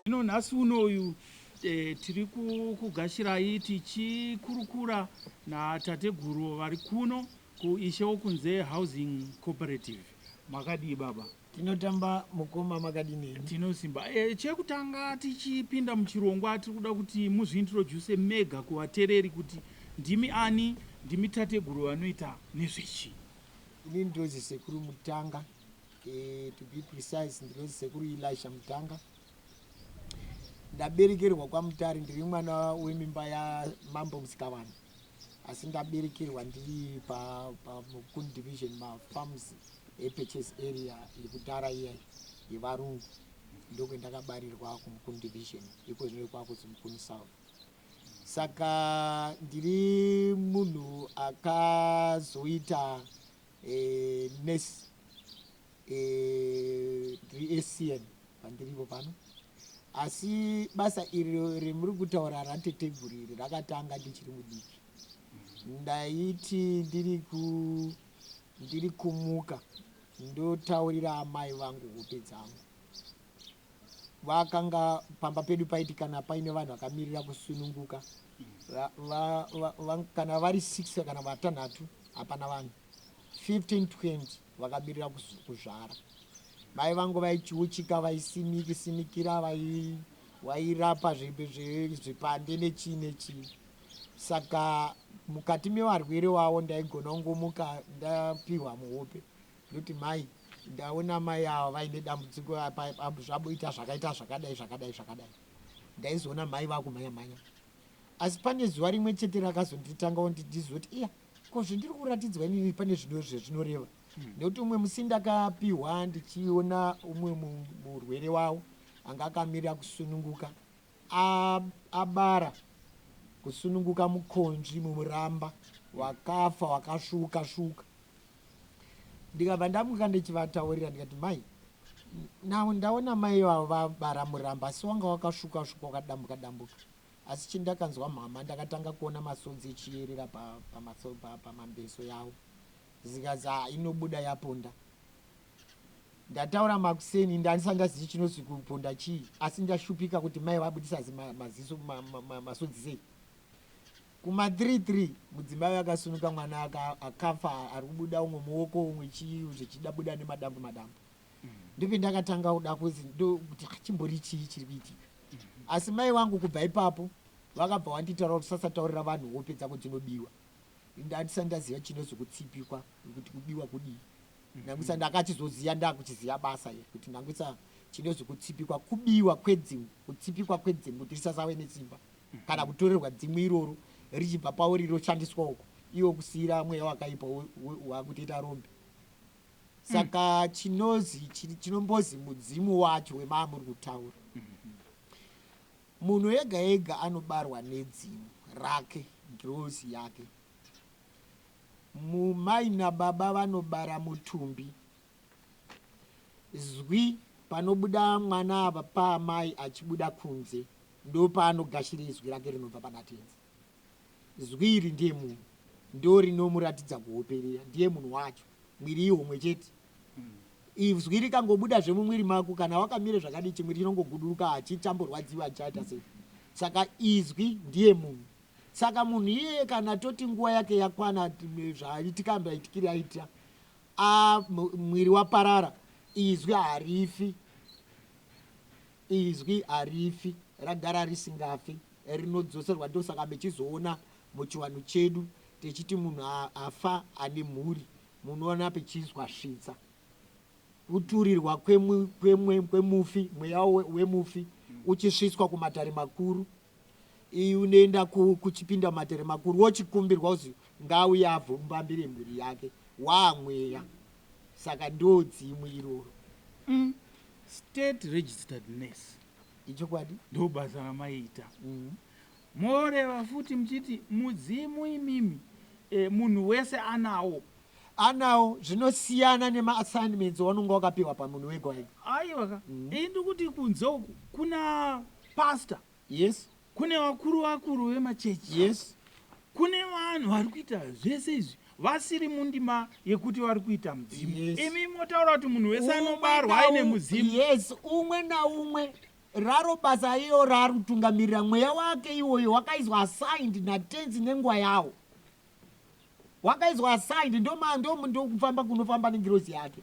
Zvino nhasi uno uyu e, tiri kugashirai tichikurukura natateguru vari kuno kuishe wokunze housing cooperative makadii baba tinotamba mukoma makadini tinosimba e, chekutanga tichipinda muchirongwa tiri kuda kuti muzviintroduse mega kuvatereri kuti ndimi ani ndimi tateguru vanoita nezvechi Ini ndinozi sekuru Mutanga eh, to be precise ndinozi sekuru Elisha Mutanga. Ndaberekerwa kwaMutare ndiri mwana wemimba yaMambo Musikavanhu asi ndaberekerwa ndiri paMukuni pa, division mafarms epurchase area yekudhara iya yevarungu ndokwendakabarirwa kumukuni division iko zvino kwakuzi mukuni south Saka ndiri munhu akazoita e, nurse e, reSCN pandiripo pano asi basa iri remuri kutaura rateteguru iri rakatanga ndichiri mudiki ndaiti ndiri ku ndiri kumuka ndotaurira amai vangu hope dzangu vakanga pamba pedu paiti kana paine vanhu vakamirira kusununguka va, va, va, va, kana vari six kana vatanhatu hapana vanhu 15 20 vakamirira kuzvara mai vangu vaichiuchika vaisimiki simikira vairapa zvipande nechii nechii saka mukati mevarwere wavo ndaigona kungomuka ndapiwa muhope Nduti mai ndaona mai ava vaine dambudziko zvaboita zvakaita zvakadai zvakadai zvakadai ndaizoona mai vakumhanya mhanya asi pane zuva rimwe chete rakazonditanga ondi ndizoti iya ko zvendiri kuratidzwa inini pane zvino zvezvinoreva hmm. nekuti umwe musi ndakapihwa ndichiona umwe murwere wavo anga akamirira kusununguka a abara kusununguka mukonzvi mumuramba wakafa wakasvuuka svuuka ndikabva ndamuka ndichivataurira ndikati mai now ndaona mai vavo vabara muramba asi wanga wakasvuka svuka wakadambuka dambuka asi chindakanzwa mhama ndakatanga kuona masodzi echiyerera pamambeso pa, pa, pa, yavo zikazi ha inobuda yaponda Ndataura makuseni ende handisati ndazivi chinonzi kuponda chii asi ndashupika kuti mai vabudisa maziso masodzi sei. Kuma 3 3 mudzimai akasunuka mwana akafa ari kubuda umwe muoko umwe chii zvichida buda nemadambu madambu. Ndipo ndakatanga kuda kuzi ndokuti ah, chimbori chii chiri kuitika. Asi mai vangu kubva ipapo vakabva wanditaura kuti sasataurira vanhu hope dzako dzinobiwa. Ndandisati ndaziva chinonzi kutsipikwa kuti kubiwa kudii. Nangwitsa ndakachizoziva ndakuchiziva basa iri kuti Nangwitsa chinonzi kutsipikwa kubiwa kwedzimu kutsipikwa kwedzimu kuti risasave nesimba kana kutorerwa dzimu iroro richibva pauri roshandiswa uko iwe kusiira mweya wakaipa wakutoita rombe saka chinozi chinombozi mudzimu wacho wemaamuri kutaura munhu ega ega anobarwa nedzimu rake ngirozi yake Umm mai nababa vanobara mutumbi. Zwi panobuda mwana apa paamai achibuda kunze ndopaanogashira izwi rake rinobva pana tenzi. Zwi iri ndiye munhu ndorinomuratidza kuhoperera ndiye munhu wacho mwiri ihomwe chete. Izwi rikangobuda zvemumwiri mako kana wakamira zvakadii chimwiri chinongoguduruka hachitamborwadziwi hachichaita sei. Saka izwi ndiye munhu. Saka munhu iyeye kana toti nguva yake yakwana zvaitika maitikire aita a mwiri waparara izwi harifi izwi harifi ragara risingafi rinodzoserwa ndosaka mechizoona muchiwanhu chedu techiti munhu afa ane mhuri munoona pechizwa svitsa kuturirwa kwemufi mweya wemufi uchisvitswa kumatare makuru Iyi unoenda ku kuchipinda matere makuru wochikumbirwa kuzi ngaauye avhombambire mhuri yake waa mweya saka ndoodzimu iroro. Umm state registered nurse. Ichokwadi. Ndobasa ramaita. Umm. Moreva futi muchiti mudzimu imimi eh munhu wese anawo. Anawo zvinosiyana nema assignments waunonga wakapiwa pamunhu wega wega. Aiwa ka. Umm. Ini ndikuti kunze uku kuna. Pastor. Yes. Kune vakuru vakuru vemachechi. Yes. Kune vanhu vari kuita zvese izvi vasiri mundima yekuti vari kuita mudzimu. Yes. Imi motaura kuti munhu wese anobarwa aine mudzimu. Yes, umwe naumwe raro basa iyo raari kutungamirira mweya wake iwoyo wakaizwa assigned natenzi nenguva yawo wakaizwa assigned ndomando ndokufamba kunofamba nengirozi yake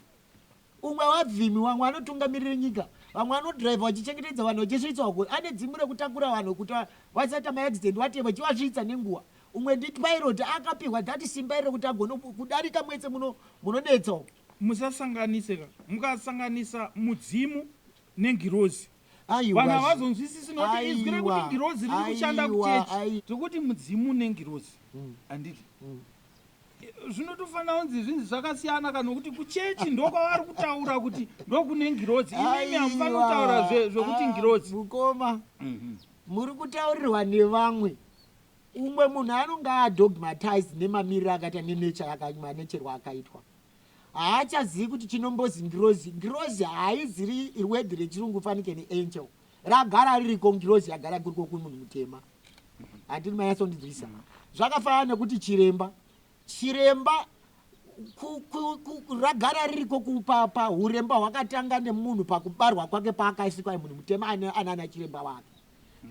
Umwe wavhimi, vamwe vanotungamirira nyika, vamwe vanodhiraivha vachichengetedza vanhu vachisvitswa uko, ane dzimu rekutakura vanhu kuti vasaita ma accident whatever vachivasvitsa nenguva. Umwe ndi pilot akapihwa that simba iri rekuti agone kudarika mwese muno munonetsa umu. Musasanganise ka. Mukasanganisa mudzimu nengirozi Aiwa vanhu zve. havazonzwisisi nokuti izwi Aiwa. rekuti ngirozi riri kushanda Aiwa. kuchechi. Ai. Tiri kuti mudzimu nengirozi handiti? zvinotofanira kunzi zvinzi zvakasiyana kana nokuti kuchechi ndokwavari kutaura kuti ndokune ngirozi imimi hamufanira kutaura zvekuti ah, ngirozi mukoma mhm. muri kutaurirwa nevamwe umwe munhu anonge adogmatized nemamiriro akaita nenature yakamanecherwa akaitwa haachazivi kuti chinombozi ngirozi ngirozi haiziri rwedhi rechirungu fanike neangel ragara ririko ngirozi yagara kuriko kumunhu mutema handini mayatsondinzwisa zvakafanana nekuti chiremba chiremba ragara ririko kupapa uremba hwakatanga nemunhu pakubarwa kwake paakaisikwa munhu mutema anaana chiremba wake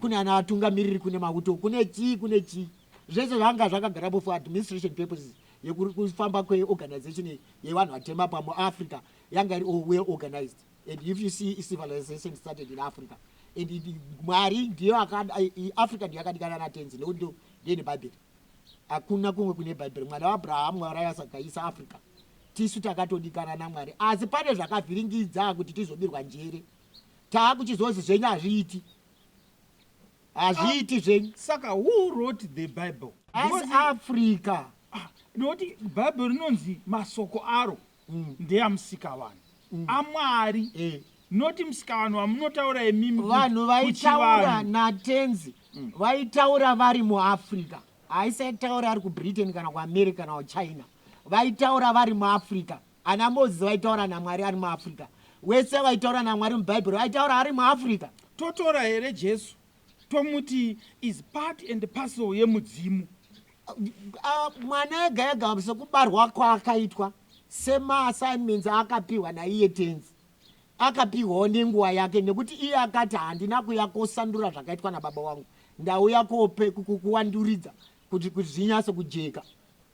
kune ana atungamiriri kune mauto kune chii kune chii zvese zvanga zvakagarapo for administration purposes yekufamba kweorganization yevanhu vatema pamuafrica yanga iri well organized And if you see civilization started in Africa and Mwari ndiyo akada Africa ndiyo akadikana na tenzi nekuti ndo ndine Bible. Hakuna kumwe kune Bible. Mwana wa Abraham Mwari asagaisa Africa. Tisu takatodikana na Mwari. Asi pane zvakavhiringidza kuti tizobirwa njere. Taakuchizozi zvenyu hazviiti. Hazviiti zvenyu. Saka who wrote the Bible? As Africa. Ah, noti Bible rinonzi masoko aro. ndeya musikavanhu aMwari not musikavanhu vamunotaura imimi vanhu vaitaura naTenzi vaitaura vari muAfrica haisaitaura ari kuBritain kana kuAmerica kana kuChina vaitaura vari muAfrica ana Moses vaitaura naMwari ari muAfrica wese vaitaura naMwari muBhaibheri vaitaura ari muAfrica totora here Jesu tomuti is part and parcel yemudzimu Ah, mwana ega ega sekubarwa kwaakaitwa semaassignments aakapiwa naiye tenzi akapiwawo nenguva yake nekuti iye akati handina kuya kosandura zvakaitwa nababa wangu ndauya kope kuwanduridza kuti kuti zvinyase kujeka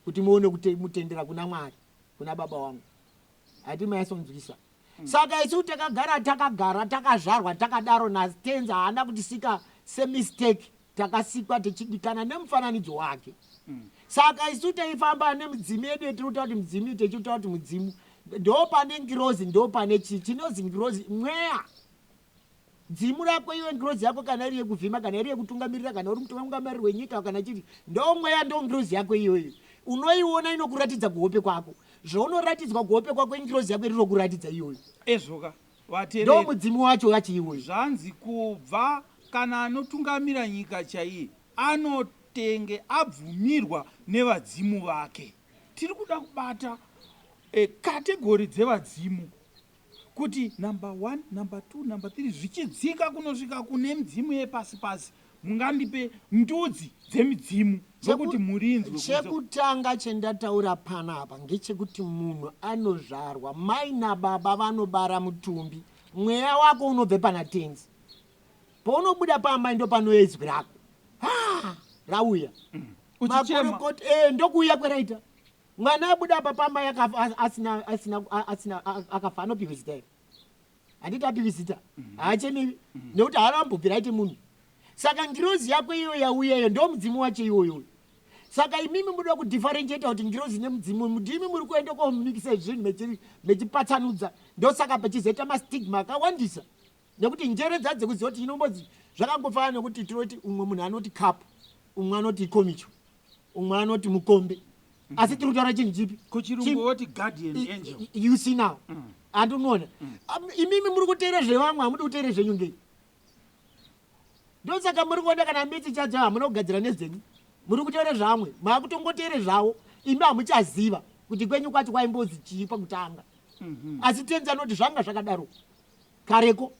kuti muone kuti mutendera kuna mwari kuna baba wangu hati maisonzwisa Saka isu takagara takagara takazvarwa takadaro naTenzi haana kutisika semistake takasikwa tichidikana nemufananidzo wake saka isu taifamba nemidzimu yedu yetinotaura kuti mudzimu techitaura kuti mudzimu ndopane ngirozi ndopane chii chinozi ngirozi mweya Dzimu rako iwe ngirozi yako kana iri yekuvhima kana iri yekutungamirira kana uri mutungamiriri wenyika kana chii ndomweya ndongirozi yako iyoyo unoiona inokuratidza kuhope kwako zvounoratidzwa kuhope kwako ingirozi yako iri rokuratidza iyoyo ezvoka vatereri ndomudzimu wacho wacho iwoyo zvanzi kubva kana anotungamira nyika chaiye anotenge abvumirwa nevadzimu vake tiri kuda kubata e, kategori dzevadzimu Kuti number one, number two, number three zvichidzika kunosvika kune midzimu yepasi pasi mungandipe ndudzi dzemidzimu dzokuti murinzwe kunze. Chekutanga chendataura panapa ngechekuti munhu anozvarwa mai nababa vanobara mutumbi mweya wako unobve pana tenzi paunobuda paamai ndopanouya izwi rako ha rauya Uchichema. makorokoti eh, ndokuuya kweraita Mwana abuda apa pamba yakafa asina asina asina akafa anopihwa zita here? Handiti apihwi zita? Mhm. Haachemewi mhm. nekuti haana ambobvira aite munhu. Saka ngirozi yako iyo yauya iyo ndo mudzimu wacho iwoyo. Saka imimi munoda kudifferentiate kuti ngirozi nemudzimu mudimi muri kuenda komikisa zvinhu mechipatsanudza ndosaka pachizoita mastigma akawandisa. Nekuti njere dzacho dzekuziva kuti inombodzi zvakangofanana nekuti tinoti umwe munhu anoti cup, umwe anoti ikomicho, umwe anoti mukombe. Mm. Asi tiri kutaura chinhu chipi? Kuchirungu woti guardian angel. You see now. Mm. Andi unoona. Mm. Um, imimi muri kuteera zvevamwe hamudi kuteera zvenyu ngei? Ndosaka muri kuona kana mbiti chacho hamuna kugadzira nezvenyu. Muri kuteera zvamwe, maakutongoteera zvavo. Imi hamuchaziva kuti kwenyu kwacho kwaimbozi chii pakutanga. Mm-hmm. Asi tenzi anoti zvanga zvakadaro. kareko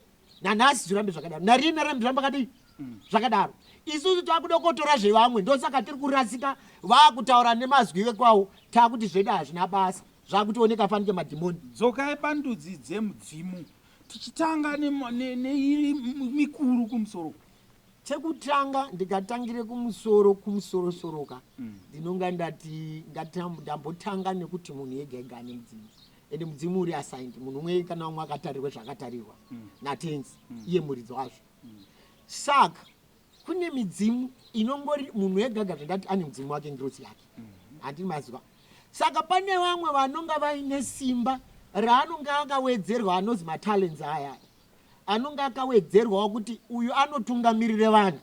nanhasi zvirambe zvakadaro nariye narambe zvirambe akadii mm. zvakadaro isusu takuda kuotora zvevamwe ndosaka tiri kurasika vakutaura nemazwi vekwawo takuti zvedu hazvina basa zvakutioneka fanike madhimoni dzokai pandudzi dzemudzimu tichitanga neiri mikuru kumusoro chekutanga ndikatangire kumusoro kumusorosoroka mm. ndinonga ndati ndambotanga nekuti munhu yega yega ane mudzimu ende mudzimu uri assigned munhu umwe kana umwe akatarirwa zvaakatarirwa mm. natenzi mm. iye muridzi wazvo mm. saka kune midzimu inongori munhu egaga zvandati ane mudzimu wake ngirosi yake mm-hmm. handii maziva saka pane vamwe vanonga vaine simba raanonge akawedzerwa anozi matalents aya anonge akawedzerwawo kuti uyu anotungamirire vanhu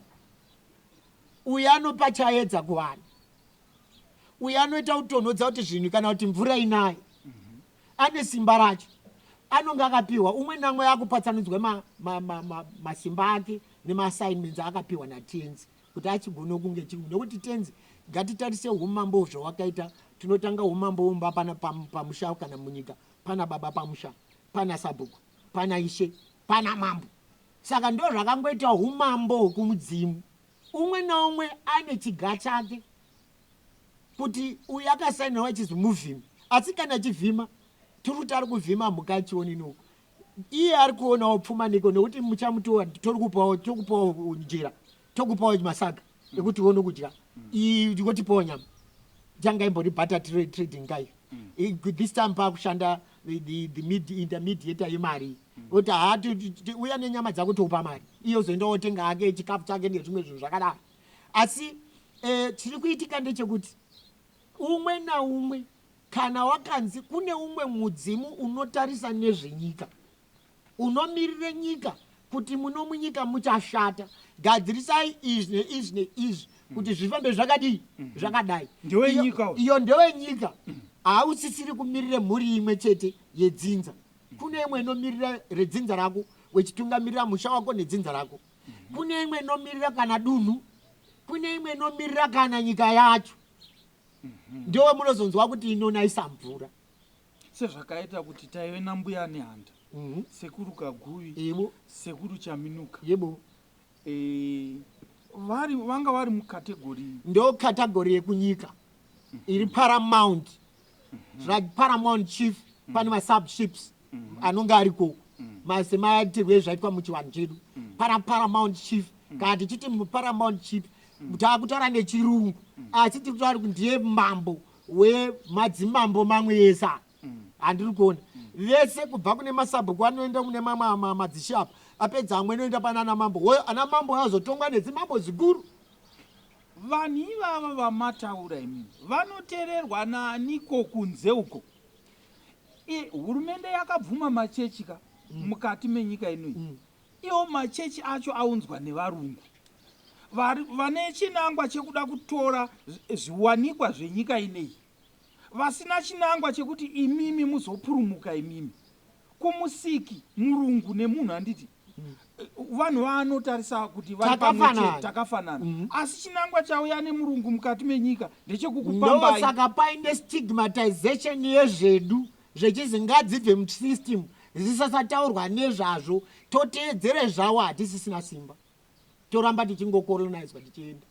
uyu anopa chaedza kuvanhu uyo anoita kutonhodza kuti zvinhu kana kuti mvura inaye ane simba racho anonge akapiwa umwe namwe akupatsanudzwa masimba ma, ma, ma, ake nemaassignments aakapiwa natenzi kuti achigona kunge chii nekuti tenzi ngatitarise umambo zvawakaita tinotanga umambo umba pana pamusha kana munyika pana baba pamusha pana sabhuku pana ishe pana mambo saka ndo zvakangoita umambo hwokumudzimu Umwe naumwe ane chiga chake kuti uyu akasainirwa achizi muvhimi asi kana achivhima tiri kuti ari kuvhima mhuka achionini uku iye ari kuonawo pfuma neko nekuti muchamutowa tori kupawo tokupawo njira tokupawo masaga mm. ekuti uone kudya ikotipawo mm. nyama tanga imbori butter trading kai mm. this time paakushanda the, the, the intermediator yemari Oti haa ti- ti- ti- uya nenyama dzako tokupa mari iye ozoenda otenga hake chikafu chake nezvimwe zvinhu zvakadaro asi eh, chiri kuitika ndechekuti umwe naumwe kana wakanzi kune umwe mudzimu unotarisa nezvenyika unomirire nyika kuti muno munyika muchashata gadzirisai izvi neizvi neizvi kuti zvifambe zvakadii zvakadai Mm-hmm. Ndewe Iyo- nyika uyu. iyo ndewe nyika hausisiri kumirire mhuri imwe chete yedzinza Kune imwe inomirira redzinza rako wechitungamirira musha wako nedzinza rako. Kune imwe inomirira kana dunhu, kune imwe inomirira kana nyika yacho. Ndewe munozonzwa kuti inonaisa mvura. Sezvakaita kuti taive nambuya Nehanda, mm -hmm. sekuru Kaguvi, Yebo. sekuru Chaminuka. Yebo. vari vanga vari mucategory ndo category yekunyika iri paramount zvaparamount chief pane masubships anonge ariko semaitirwe ezvaitwa muchivanhu chedu para paramount chief kana tichiti muparamount chief taakutaura nechirungu asi tiri kutaura kuti ndiye mambo wemadzimambo mamwe ese handiri kuona vese kubva kune masabhuku anoenda kune mamwe madzishe apa apedza amwe anoenda pana ana mambo hoyo ana mambo azotongwa nedzimambo ziguru vanhu ivava vamataura imimi vanotererwa naaniko kunze uko hurumende yakabvuma machechi ka mm. mukati menyika inoyi mm. iwo machechi acho aunzwa nevarungu vane chinangwa chekuda kutora zviwanikwa zvenyika ineyi vasina chinangwa chekuti imimi muzopurumuka imimi kumusiki murungu nemunhu anditi mm. vanhu vaanotarisa kuti vaiae takafanana mm. asi chinangwa chauya nemurungu mukati menyika ndechekukupambai saka paine stigmatization yezvedu zvechizi ngadzibve musystem zisasataurwa nezvazvo toteedzere zvawo hatisisina simba toramba tichingokolonizwa tichienda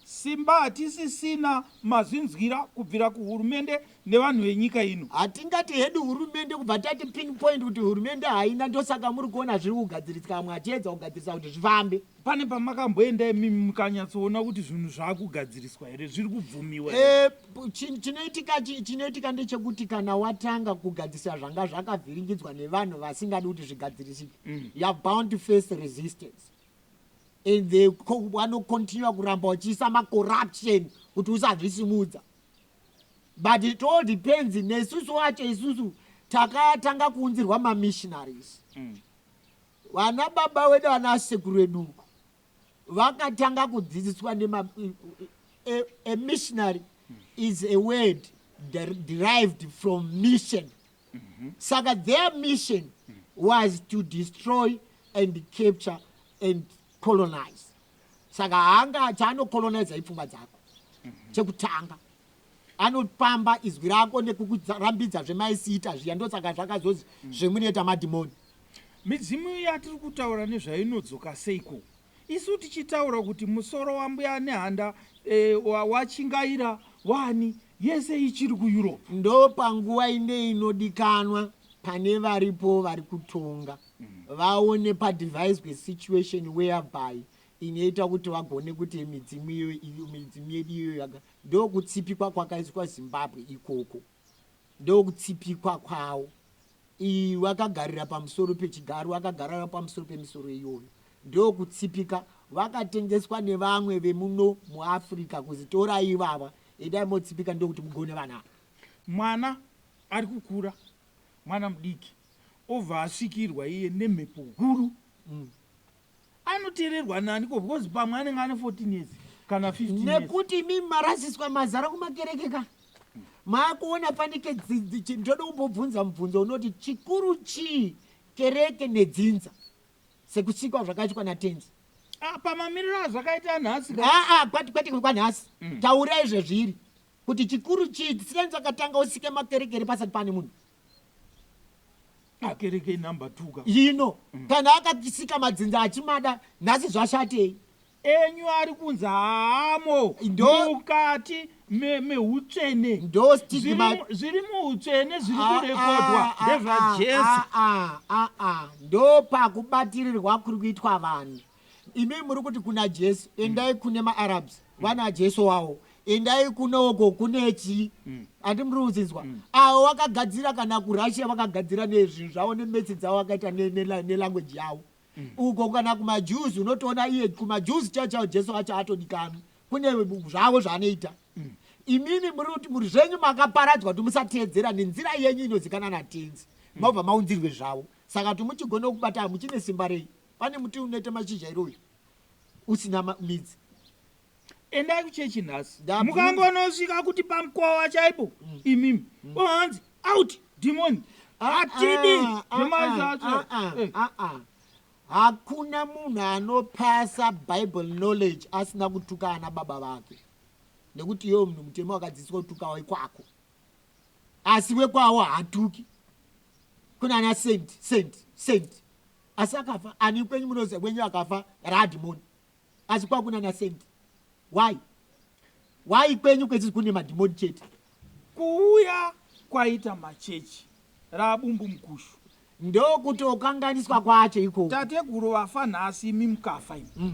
Simba hatisisina mazvinzwira kubvira kuhurumende nevanhu venyika ino. Hatingati hedu hurumende kubva tati pin point kuti hurumende haina ndosaka muri kuona zviri kugadziritsika vamwe vachiedza kugadzirisa kuti zvifambe. Pane pamakamboenda imimi mukanyatsoona kuti zvinhu zvakugadziriswa here zviri kubvumiwa here? Eh, p- chi- chinoitika chi- chinoitika ndechekuti kana watanga kugadzirisa zvanga zvakavhiringidzwa nevanhu vasingadi kuti zvigadzirisike you're bound to face resistance and they vano continue kuramba vachiisa macorruption kuti usazvisimudza but it all depends nesusu wacho isusu takatanga kuunzirwa mamissionaries mm. vana mm. baba wedu vana sekuru veduko vakatanga kudzidziswa nema a, a missionary mm. is a word derived from mission saka their mission was to destroy and capture and colonize saka haanga chaanocoloniza ipfungwa dzako chekutanga anopamba izwi rako nekukurambidza zvemaisiita zviya ndosaka zvakazozi zvemunoita madhimoni midzimu yatiri kutaura nezvainodzoka seiko isu tichitaura kuti musoro wambuya nehanda e, wachingaira wani Yese ichiri kuEurope. Ndopanguva ine inodikanwa pane varipo vari kutonga vaone padeviswe situation whereby inoita kuti vagone kuti midzimu iyoyo iyo midzimu yedu iyoyo yaga ndokutsipikwa kwakaiswa zimbabwe ikoko ndokutsipikwa kwawo Iwe akagarira pamusoro pechigaro akagarira pamusoro pemisoro iyoyo ndokutsipika vakatengeswa nevamwe vemuno muAfrica kuzi torai ivava endai motsipika ndokuti mugone vana ava. Mwana ari kukura mwana mudiki obva asvikirwa iye nemhepo huru Anoteererwa nani ko because pamwe anenge ane 14 years kana 15 years. Nekuti imimi marasiswa mazara kumakereke ka. Makuona fanike ndoda kumbobvunza mubvunzo unoti chikuru chii kereke nedzinza sekusikwa zvakaitwa natenzi. Ah, pamamiriro azvakaita nhasi aa ah, kwati kwati kwanhasi mm. taura izvezviri kuti chikuru chii tisinanzi akatanga usike makerekere pasati pane munhu akereke number two ka ino mm. kana akakisika madzinza achimada nhasi zvashatei enyu ari kunzi haamo mukati meutsvene zviri muutsvene zviri ah, kurekodwa ah, ah, ndezvajesu ndopakubatirirwa kuri kuitwa vanhu imi muri kuti kuna jesu endai mm. kune maarabs mm. vana jesu wawo endai kunoko kunechi mm. andi muri kudzinzwa mm. avo vakagadzira kana kurussia vakagadzira nezvinhu zvavo nemetsi dzavo vakaita nelanguage ne, ne yavo mm. uko kana kumajuzi unotoona iye kumajuzi chao chao jesu acho atodikanwa kune zvavo zvaanoita mm. imimi muri kuti muri zvenyu makaparadzwa kuti musateedzera nenzira yenyu inozikana natenzi mm. mobva maunzirwe zvavo saka kuti muchigona kubata muchine simba rei pane muti unoita mashizha iri uyu usina ma- midzi endai kuchechi nhasi Ndabvunza. mukangonosvika kuti pamukova chaipo imimi ohanzi out demon hatidi Ah, ah, zvemaizvi ah, acho ah, ah, Eh, ah, ah. hakuna munhu anopasa bible knowledge asina kutuka ana baba vake nekuti iyewo munhu mutema wakadzidziswa kutuka wekwako asi wekwawo hatuki kuna ana saint saint saint Asi akafa ani kwenyu munoziva wenyu akafa raadhimoni asi kwakuna na saint why why kwenyu kwechisi kune madhimoni chete kuuya kwaita machechi raabumbu mukushu ndokutokanganiswa kwacho ikoko tateguru vafa nhasi imi mukafa imi mm.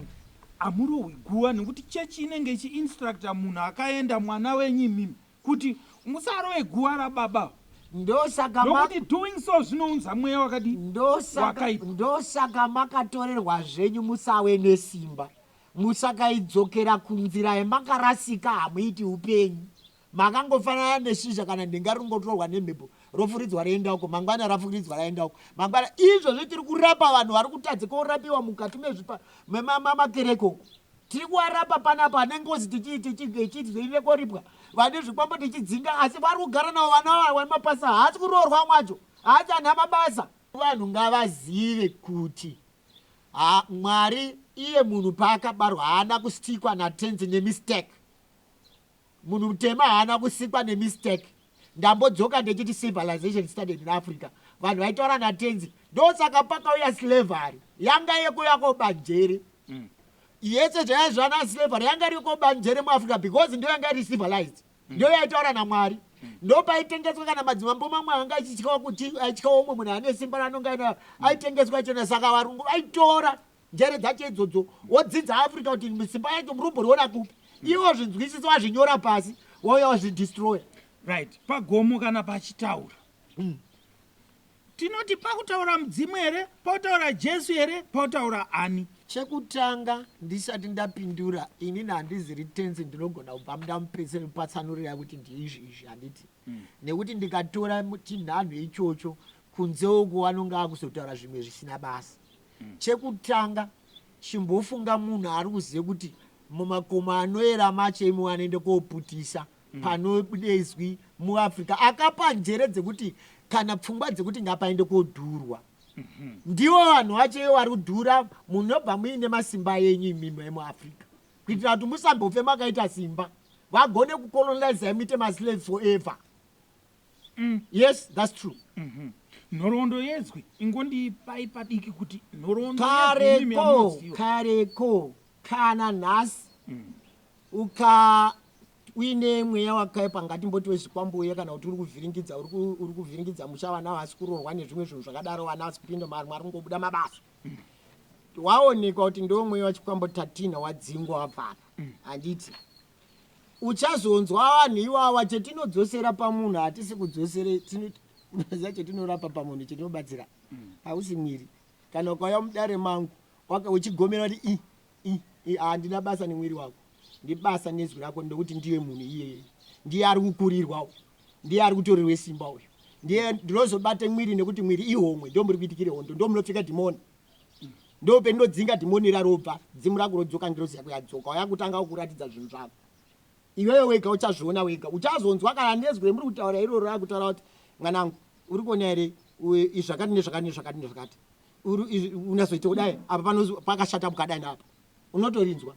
amurowi guva nekuti chechi inenge ichiinstructa munhu akaenda mwana wenyu imimi Kuti musarove guva rababa ava. Ndosaka ma. Nokuti doing so zvinounza mweya wakadii? Ndosaka. Wakaipa. Ndosaka makatorerwa zvenyu musave nesimba. Musakaidzokera kunzira yamakarasika hamuiti upenyu. Makangofanana neshizha kana nhenga ringotorwa nemhepo rofuridzwa roenda uko mangwana rafuridzwa raenda uko mangwana izvozvi tiri kurapa vanhu vari kutadza korapiwa mukati mezvipa memakereke uko Tiri kuvarapa panapa vane ngozi tichiti zveirira koripwa vane zvikwambo tichidzinga asi vari kugara navo vana vavo vane mapasa haasi kuroorwa amwe acho haasi ana mabasa. Vanhu ngavazive kuti ha Mwari iye munhu paakabarwa haana kustikwa naTenzi nemistake. Munhu mutema haana kusikwa nemistake. Ndambodzoka ndechiti civilization started in Africa. Vanhu vaitaura naTenzi. Ndosaka pakauya slavery. Yanga yekuya kobanjere. Mm. Yese zvaya zvana slavery yanga iri kobanjere muAfrica because ndiyo yanga iri civilized. Mm. Ndiyo yaitaura naMwari. Mm. Ndopaitengeswa kana madzimambo mamwe anga achityawo kuti aityawo umwe munhu ane simba ranonga aina aitengeswa chena saka varungu vaitora Njere dzake idzodzo wodzidza Africa kuti simba yacho murombo riona kupi iwe wazvinzwisisa wazvinyora pasi wauya wazvidestroya right pagomo kana pachitaura mm. tinoti pakutaura mudzimu here pakutaura jesu here pakutaura ani chekutanga ndisati ndapindura inini handiziri tenzi ndinogona kubva mudamupeseni patsanurira kuti ndiizvi izvi handiti mm. nekuti ndikatora chinhanho ichocho kunze uko anonge akuzotaura zvimwe zvisina basa mm. chekutanga chimbofunga munhu ari kuziva kuti mumakomo anoera macho imo anoenda koputisa mm. panodezwi muafrica akapa njere dzekuti kana pfungwa dzekuti ngapaende kodhurwa mm-hmm. ndivo vanhu vacho ivo vari kudhura munobva muine masimba yenyu imimo emuafrica kuitira kuti musambofe makaita simba vagone kucolonizai muite maslaves forever mm. yes thats true mm -hmm. nhoroondo yezwi ingondipai padiki kuti nhoroondo kareko kareko kana nhasi mm. uka uine mweya wakaipa ngatimboti wezvikwambo uye kana kuti uri kuvhiringidza uri kuvhiringidza musha vana vasi kuroorwa nezvimwe zvinhu zvakadaro vana vasi kupinda mari mwari kungobuda mabasa waonekwa kuti ndomwe wachikwambo 13 wadzingwa wabvapa handiti uchazonzwa vanhu iwawa chetinodzosera pamunhu hatisi kudzosere tinoza chetinorapa pamunhu chetinobatsira hausi mwiri kana ukauya mudare mangu uchigomera kuti i I, I, handina basa nemwiri wako, ndibasa nezwi rako ndokuti ndiye munhu iyeye. Ndiye ari kukurirwa uyu, ndiye ari kutorerwe simba uyu, ndiye ndinozobate mwiri nekuti mwiri ihomwe, ndo muri kuitikire hondo, ndo munopfeka dhimoni ndo pendinodzinga dhimoni ira robva dzimu rako rodzoka ngirozi yako yadzoka wayakutanga kukuratidza zvinhu zvako iwewe wega uchazviona wega uchazonzwa kana nezwi remuri kutaura iroro rakutaura kuti mwanangu uri kuona here izvakati nezvakati nezvakati nezvakati unyazoita kudai apa panozi pakashata mukadai naapa unotorinzwa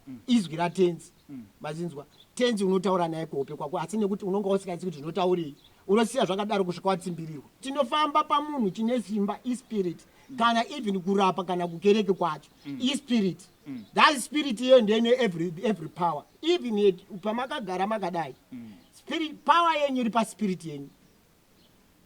mm. izwi ratenzi mm. mazinzwa tenzi unotaura naye kuhope kwako asi nekuti unonga usikaisi kuti zvinotaurei unosiya zvakadaro kusvika watsimbirirwa tinofamba pamunhu chine simba ispirit mm. kana even kurapa kana kukereke kwacho ispirit that spirit iyoyo ndene every, every power even pamakagara makadai spirit power yenyu iri paspirit yenyu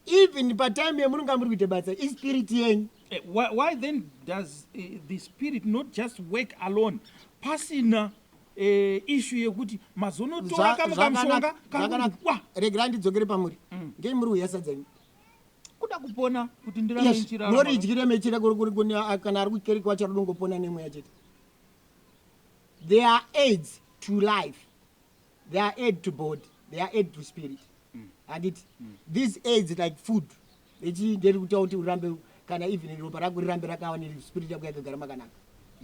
even patime yemunonga muri kuita basa ispirit yenyu eh, why, why then does uh, the spirit not just work alone pasina eh, ishu yekuti mazonotora kamwe kamushonga kakuwa regera ndidzokere pamuri mm. ngei muri uyasa dzenyu kuda kupona kuti ndiraamunoridyire mechira kana ari kukereki wacho rinongopona nemweya chete there are aids to life they are aid to body they are aid to spirit handiti these aids like food echi nderi kutaura kuti urambe kana even ropa rako rirambe rakawa nespirit yako yakagara makanaka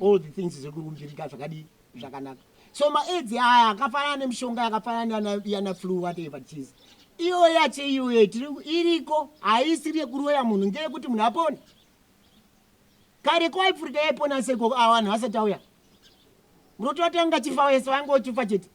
all the things zviri kurumbirika zvakadii zvakanaka so maaids aya akafanana nemishonga yakafanana yana flu whatever it is iyoyo yacho iyoyo iriko haisiri yekuroya munhu ngeyekuti munhu apone kare ko aifurika yaipona seko avanhu vasati auya Bro twatanga chifa wese waingo chifa chete.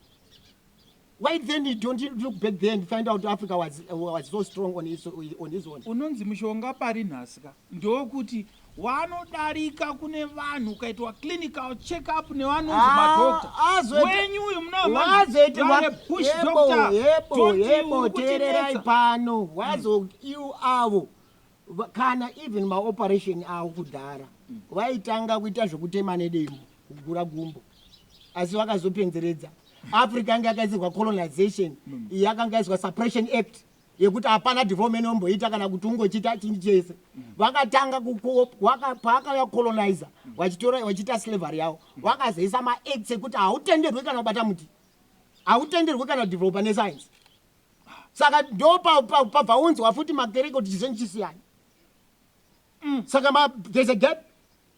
Why then you don't look back there and find out Africa was, was so strong on his, on his own. Unonzi mushonga pari nhasi ka ndokuti wanodarika kune vanhu ukaitwa clinical check up nevanonzi ah, madoctor ah, wenyu uyu munapush doctor teererai pano wazoiu mm. avo kana even maoperation avo kudhara vaitanga kuita zvekutema nedemo kugura gumbo asi vakazopenzeredza africa yanga yakaisirwa colonization yakanga yaiswa suppression act yekuti hapana development omboita kana kuti ungochiita chinyi chese vakatanga paakauya colonizer vachitora vachiita slavery yavo vakazoisa maacts ekuti hautenderwi kana kubata muti hautenderwi kana kudevelopa nescience saka ndo pabvaunzwa futi makereke kuti chizonyi chisiyana mm. saka there's a gap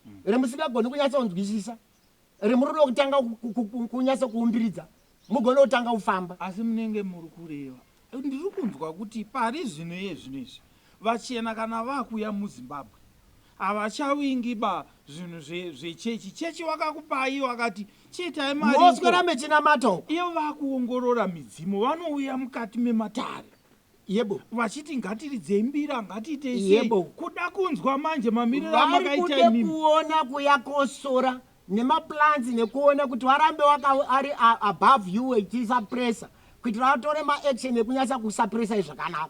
mm. remusingagoni kunyatsa kunzwisisa remurudo kutanga kunyatsa kuumbiridza mugone kutanga kufamba asi munenge muri kureva ndiri kunzwa kuti pari zvino iye zvino izvi Vachena kana vakuya muZimbabwe havachavingi ba zvinhu zve zvechechi chechi wakakupai wakati chiitai mari uko. Moswera mechinamata uko. Ivo vakuongorora midzimu vanouya mukati mematare Yebo. vachiti ngatiridzei mbira ngatiitei sei Yebo. kuda kunzwa manje mamiriro Vari amakaita kude imimi. kuona kuya kosora nemaplans nekuona kuti warambe waka ari above you echiisa pressure kuitira vatore maaction ekunyasa kusapressai zvakanaka